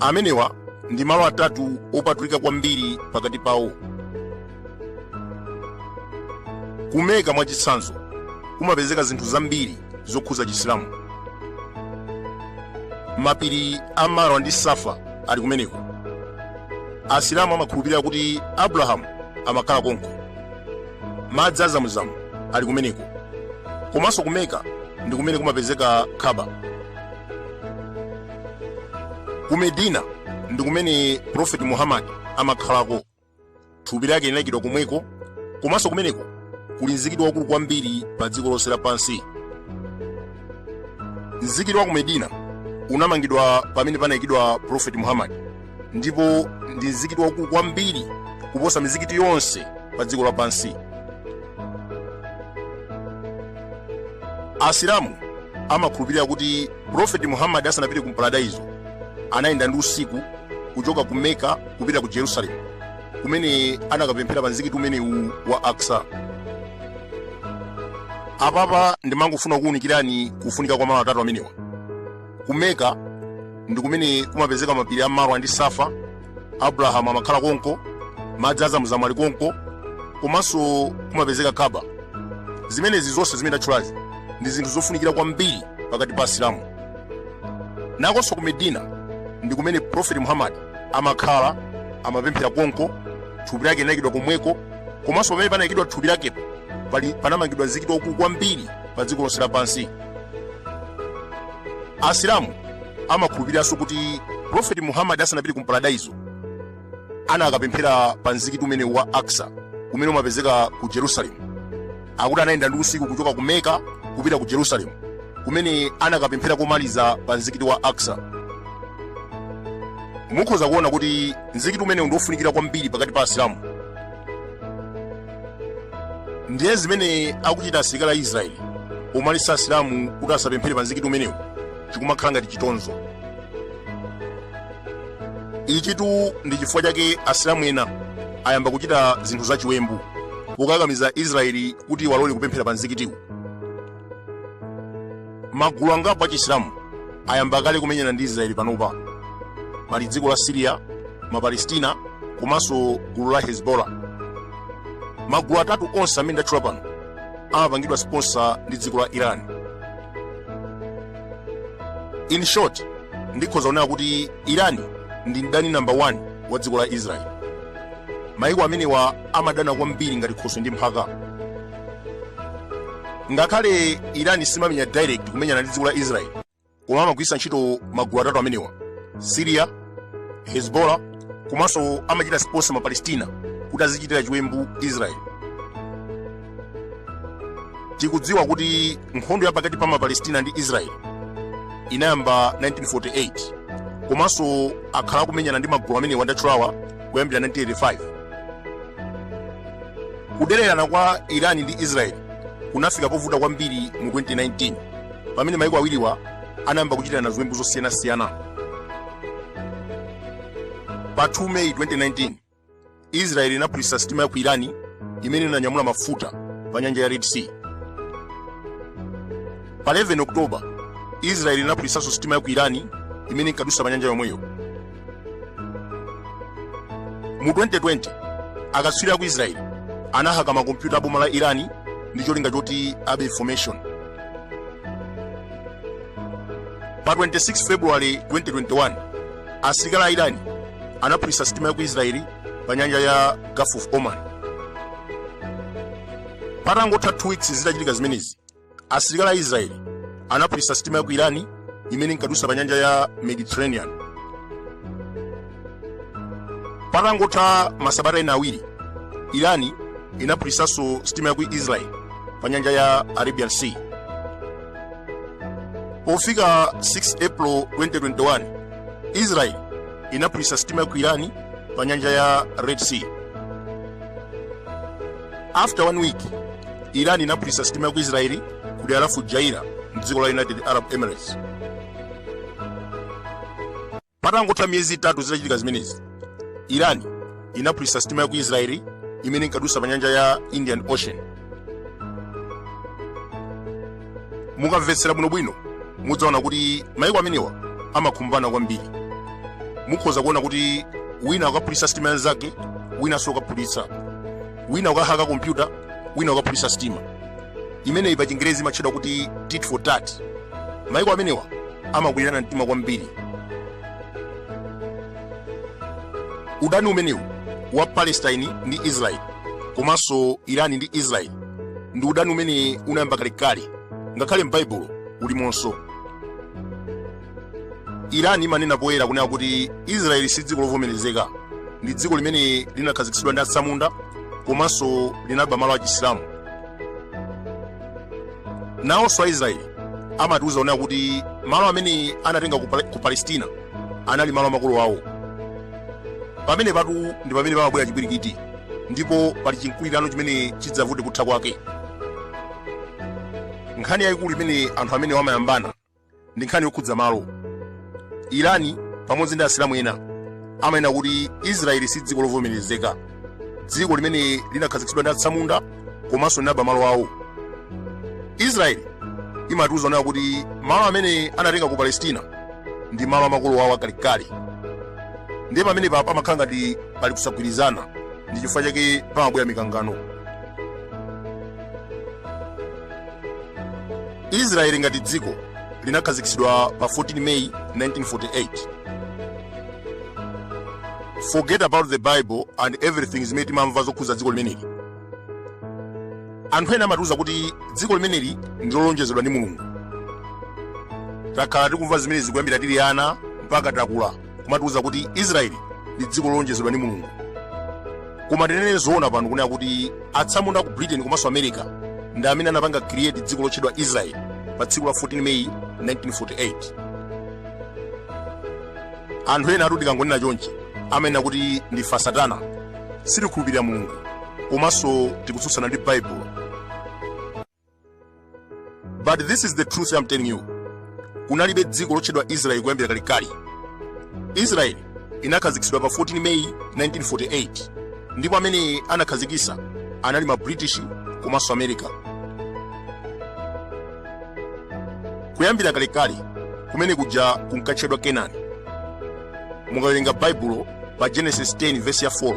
Amenewa ndi malo atatu opatulika kwambiri pakati pawo. Ku Mecca mwachitsanzo, kumapezeka zinthu zambiri zokhudza Chisilamu. Mapiri a Marwa ndi Safa ali kumeneko. Asilamu amakhulupirira kuti Abrahamu amakhala konko. madzi a zamuzamu ali kumeneko komanso ku meka ndi kumene kumapezeka khaba ku medina ndi kumene prophet muhammad amakhalako thupi lake linayikidwa komweko komanso kumeneko kuli mzikiti waukulu kwambiri pa dziko lonse lapansi mzikiti wa ku medina unamangidwa pamene panayikidwa prophet muhammad ndipo ndi mzikiti waukulu kwambiri kuposa mizikiti yonse pa dziko lapansi asilamu amakhulupirira kuti profeti muhammadi asanapite ku paradaizo anayenda ndi usiku kuchoka ku meka kupita ku jerusalemu kumene anakapemphera pa mzikiti umenewu wa aksa apapa ndimangofuna kuwunikirani kufunika kwa malo atatu amenewa ku meka ndi kumene kumapezeka mapiri a marwa ndi safa abrahamu amakhala konko madzi a zamuzamu ali konko komanso kumapezeka kaba zimenezi zonse zimene tatchulazi ndi zinthu zofunikira kwambiri pakati pa asilamu nakonso ku medina ndi kumene profeti muhammad amakhala amapemphera konko thupi lake linayikidwa komweko komanso pamene panayikidwa thupi lakepo panamangidwa mzikiti waukulu kwambiri pa dziko lonse lapansi asilamu amakhulupiriranso kuti profeti muhammad asanapite ku paradaizo anakapemphera pa mzikiti umenewu wa aksa umene umapezeka ku jerusalemu akuti anayenda ndi usiku kuchoka ku meka kupita ku jerusalemu kumene anakapemphera komaliza pa mzikiti wa aksa mukhoza kuona kuti mzikiti umenewu ndi wofunikira kwambiri pakati pa asilamu ndiye zimene akuchita asilikali a israeli owaletsa asilamu kuti asapemphere pa mzikiti umenewu chikumakhala ngati chitonzo ichitu ndi chifukwa chake asilamu ena ayamba kuchita zinthu zachiwembu pokakamiza israeli kuti awalole kupemphera pa mzikitiwu magulu angapo achisilamu ayamba kale kumenyana ndi israeli panopa pali dziko la siriya mapalestina komanso gulu la hezbollah magulu atatu onse amene ndatchula pano amapangidwa sponsor ndi dziko la iran in short ndikhoza kunena kuti iran ndi mdani number 1 wa dziko la israeli mayiko amenewa amadana kwambiri ngati khoswe ndi mphaka ngakhale irani simamenya direct kumenyana ndi dziko la israel koma amagwiritsa ntchito magulu atatu amenewa syria hezbollah komanso amachita sponsor ma palestina kuti azichitira chiwembu israel tikudziwa kuti nkhondo ya pakati pa ma palestina ndi israel inayamba 1948 komanso akhala akumenyana ndi magulu amenewa ndatchulawa kuyambira 1985 kudererana kwa iran ndi israel kunafika povuta kwambiri mu 2019 pamene maiko awiriwa anayamba kuchitirana ziwembu zosiyanasiyana pa 2 meyi 2019 israel inaphulitsa sitima ya ku iran imene inanyamula mafuta pa nyanja ya red sea pa 11 oktoba israel inaphulitsanso sitima ya ku iran imene inkadutsa pa nyanja yomweyo mu 2020 akatswiri a ku israeli anahaka makompyuta a boma la irani ndi cholinga choti abe information pa 26 february 2021 asilikali a irani anaphulitsa sitima ya ku israeli pa nyanja ya gulf of oman patangotha 2 weeks zitachitika zimenezi asilikali a israeli anaphulitsa sitima ya ku irani imene inkadutsa pa nyanja ya mediterranean patangotha masabata ena awiri irani inaphulitsanso sitima ya ku israeli pa nyanja ya arabian sea pofika 6 april 2021 israeli inaphulitsa sitima ya ku irani pa nyanja ya red sea after one week iran inaphulitsa sitima ya ku israeli ku dera la fujairah mdziko la united arab emirates patangotha miyezi itatu zitachitika zimenezi iran inaphulitsa sitima ya ku israeli imene inkadusa pa nyanja ya indian ocean mukamvetsera bwinobwino mudzaona kuti maiko amenewa amakhumbana kwambiri mukhoza kuona kuti wina akaphulitsa sitima yanzake winanso akaphulitsa wina akahaka kompyuta wina akaphulitsa sitima imeneyi pa chingerezi imatchedwa kuti tit for tat maiko amenewa amakwirana mtima kwambiri udani umenewu wa palestine ndi israel komanso irani ndi israel ndi udani umene unayamba kalekale ngakhale m'baibulo ulimonso iran imanena poyera kunena kuti israeli si dziko lovomerezeka ndi dziko limene linakhazikitsidwa ndi atsamunda komanso linaba malo achisilamu nawonso aisraeli amatiuza kunena kuti malo amene anatenga ku palestina anali malo a makolo awo pamenepatu ndi pamene pamabwera chipwirikiti ndipo pali chinkulirano chimene chidzavute kutha kwake nkhani yayikulu imene anthu amenewa amayambana ndi nkhani yokhudza malo irani pamodzi ndi asilamu ena amanena kuti israeli si dziko lovomerezeka dziko limene linakhazikitsidwa ndi atsamunda komanso linaba malo awo israeli imatiuza nayo kuti malo amene anatenga ku palestina ndi malo amakolo awo akalekale ndiye pamenepa pamakhala ngati pali kusagwirizana ndi chifukwa chake pamabwera mikangano israeli ngati dziko linakhazikitsidwa pa 14 may 1948 forget about the bible and everything zimene timamva zokhudza dziko limeneli anthu ena amatiuza kuti dziko limeneli ndi lolonjezedwa ndi mulungu takhala tikumva zimenezi kuyambira tili ana mpaka takula kumatiuza kuti israeli ndi dziko lolonjezedwa ndi mulungu koma tinene zoona pano kunena kuti atsamunda ku britain komanso america ndi amene anapanga create dziko lotchedwa israeli pa tsiku la 14 meyi 1948 anthu ena athu tikangonena chonchi amanena kuti ndife asatana sitikhulupirira mulungu komanso tikutsutsana ndi baibulo but this is the truth I'm telling you kunalibe dziko lotchedwa israeli kuyambira kalekale israeli inakhazikitsidwa pa 14 meyi 1948 ndipo amene anakhazikisa anali ma british komanso america kuyambira kalekale kumene kuja kunkatchedwa kenani mukawerenga baibulo pa genesis 10 vesi ya 4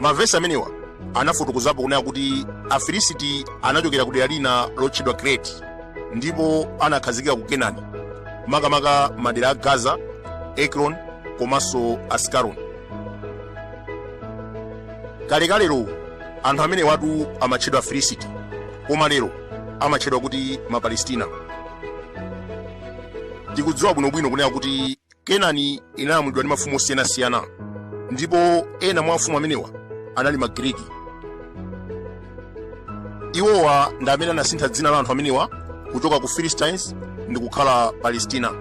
mavesi amenewa anafotokozapo kunena kuti afilisiti anachokera ku dera lina lotchedwa kreti ndipo anakhazikika ku kenani makamaka madera a gaza ekron komanso askaroni kalekalero anthu amenewatu amatchedwa afilisiti koma lero amatchedwa kuti mapalestina tikudziwa bwinobwino kunena kuti kenani inalamulidwa ndi mafumu osiyanasiyana ndipo ena mwa mafumu amenewa anali magiriki iwowa ndi amene anasintha dzina la anthu amenewa kuchoka ku philistines ndi kukhala palestina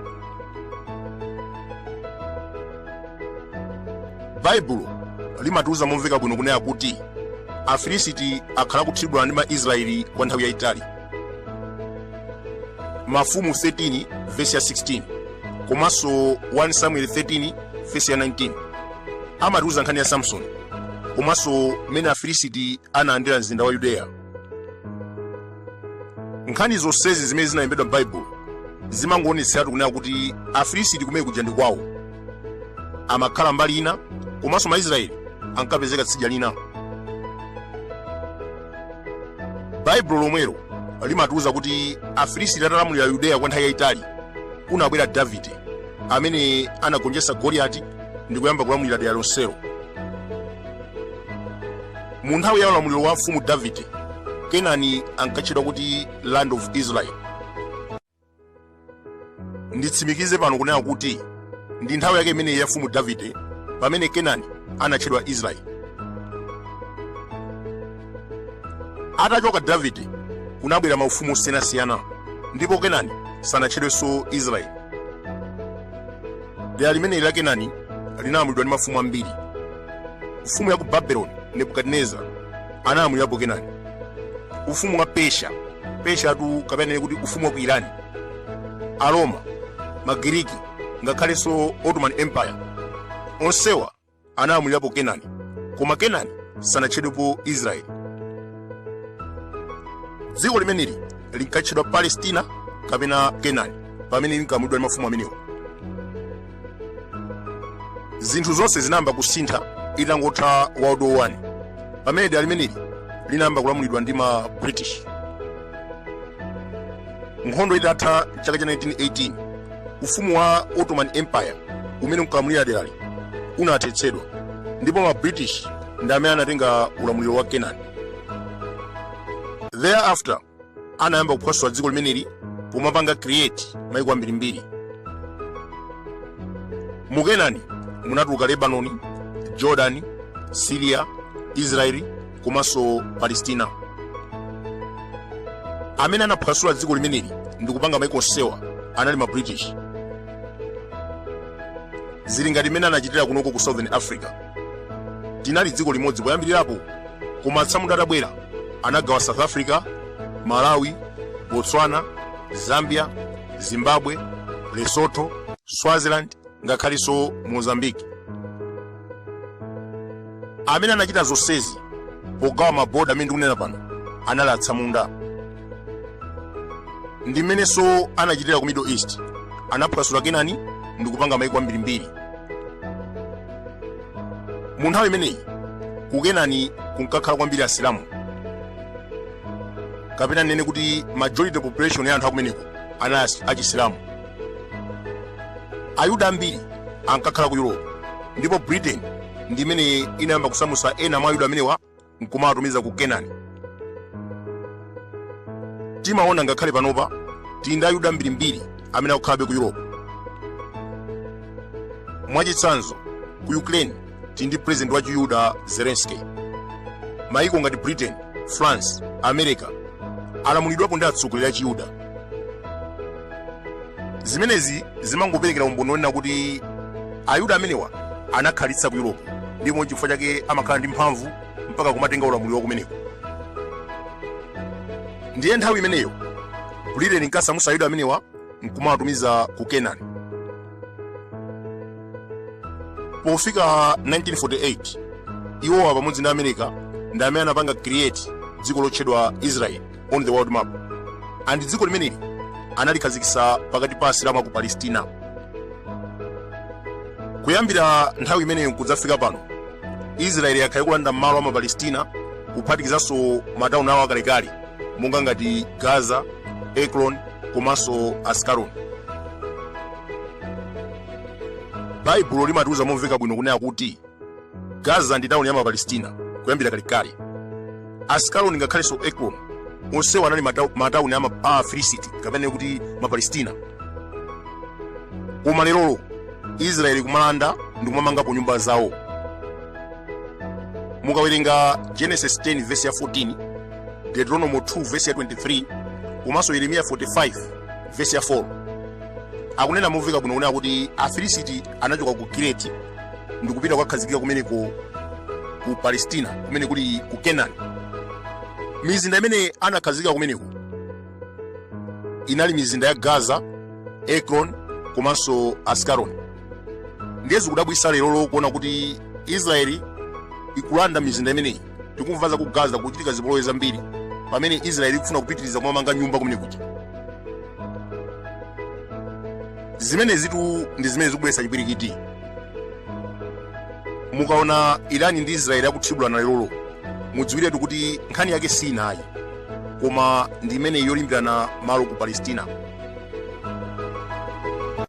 baibulo limatiuza momveka bwino kunena kuti afilisiti akhala akudana ndi maisraeli kwa nthawi yayitali mafumu 13 vesi ya 16 komanso 1 samuel 13 vesi ya 19 amatiuza nkhani ya samsoni komanso mmene afilisiti analandira mzinda wa yudeya nkhani zonsezi zimene zinalembedwa m'baibulo zimangoonetseratu kunena kuti afilisiti kumene kuja ndi kwawo amakhala mbali ina komanso maisraeli ankapezeka tsidya lina baibulo lomwelo limatiuza kuti afilisiti atalamulira yudeya kwa nthawi yayitali kunabwera davide amene anagonjetsa goliyati ndi kuyamba kulamulira dera lonselo mu nthawi ya ulamuliro wa mfumu davide kenani ankatchedwa kuti land of israel nditsimikize pano kunena kuti ndi nthawi yake imeneyi ya mfumu davide pamene kenani anatchedwa israeli atachoka davide kunabwera maufumu osiyanasiyana ndipo kenani sanatchedwenso israeli dera limeneli la kenani linalamulidwa ndi mafumu ambiri mfumu ya ku babeloni nebukadineza analamulirapo kenani ufumu wa persia persia tu kapena nene kuti ufumu wa ku irani aroma magiriki ngakhalenso ottoman empire onsewa analamulirapo kenani koma kenani sanatchedwepo israeli dziko limeneli linkatchedwa palestina kapena kenani pamene linkalamulidwa ndi mafumu amenewa zinthu zonse zinayamba kusintha itangotha world war 1 pamene dera limeneli linayamba kulamulidwa ndi ma british nkhondo itatha mchaka cha 1918 ufumu wa ottoman empire umene unkalamulira derali unathetsedwa ndipo ma british ndi amene anatenga ulamuliro wa kenani thereafter anayamba kuphwasula dziko limeneli pomapanga create maiko ambirimbiri mu kenani munatuluka lebanoni jordani siriya israeli komanso palestina amene anaphwasula dziko limeneli ndi kupanga maiko onsewa anali ma british zili ngati mmene anachitira kunoko ku southern africa tinali dziko limodzi poyambirirapo koma atsamunda atabwera anagawa south africa malawi botswana zambia zimbabwe lesotho swaziland ngakhalenso mozambique amene anachita zonsezi pogawa maboda amene ndikunena pano anali atsamunda ndi mmenenso anachitira ku middle east anaphwasula kenani ndi kupanga maiko ambirimbiri mu nthawi imeneyi ku kenani kunkakhala kwambiri asilamu kapena ndinene kuti majority population ya anthu akumeneko anali achisilamu ayuda ambiri ankakhala ku europe ndipo britain ndi imene inayamba kusamutsa ena mwa ayuda amenewa nkumawatumiza ku kenani timaona ngakhale panopa tili ndi ayuda ambirimbiri amene akukhalabe ku europe mwachitsanzo ku ukraine tili ndi president wa chiyuda zelensky maiko ngati britain france america alamulidwapo ndi atsogoleri a chiyuda zimenezi zimangoperekera umboni wonena kuti ayuda amenewa anakhalitsa ku europe ndipo n'chifukwa chake amakhala ndi mphamvu mpaka kumatenga ulamuliro wa kumeneko ndiye nthawi imeneyo britain inkasamusa ayuda amenewa nkumawatumiza ku kenani pofika 1948 iwowa pamodzi ndi america ndi amene anapanga create dziko lotchedwa israel on the world map and dziko limeneli analikhazikitsa pakati pa asilamu aku palestina kuyambira nthawi imeneyo nkudzafika pano israeli yakhala ikulanda malo a mapalestina kuphatikizanso matauni awo akalekale monga ngati gaza ekron komanso askaloni baibulo limatiuza momveka bwino kunena kuti gaza ndi tauni ya mapalestina kuyambira kalekale askaloni ngakhalenso ekron onsewa anali matauni a afilisiti kapena kuti mapalestina koma lerolo israeli kumalanda ndi kumamangapo nyumba zawo mukawerenga genesis 10 vesi ya 14 deuteronomo 2 vesi ya 23 komanso yeremiya 45 vesi ya 4 akunena momveka bwino kunena kuti afilisiti anachoka ku kireti ndikupita kukakhazikika kumeneko ku palestina kumene kuli ku kenani mizinda imene anakhazikika kumeneko inali mizinda ya gaza ekron komanso askaloni ndiye zikudabwisa lerolo kuona kuti israeli ikulanda mizinda imeneyi tikumva za ku gaza kuchitika zipolowe zambiri pamene israeli ikufuna kupitiriza kumamanga nyumba kumene kuja zimenezitu ndi zimene zikubweretsa chipwirikiti mukaona irani ndi israeli akuthibulana lerolo mudziwiretu kuti nkhani yake si ina ayi koma ndi imeneyi yolimbirana malo ku palestina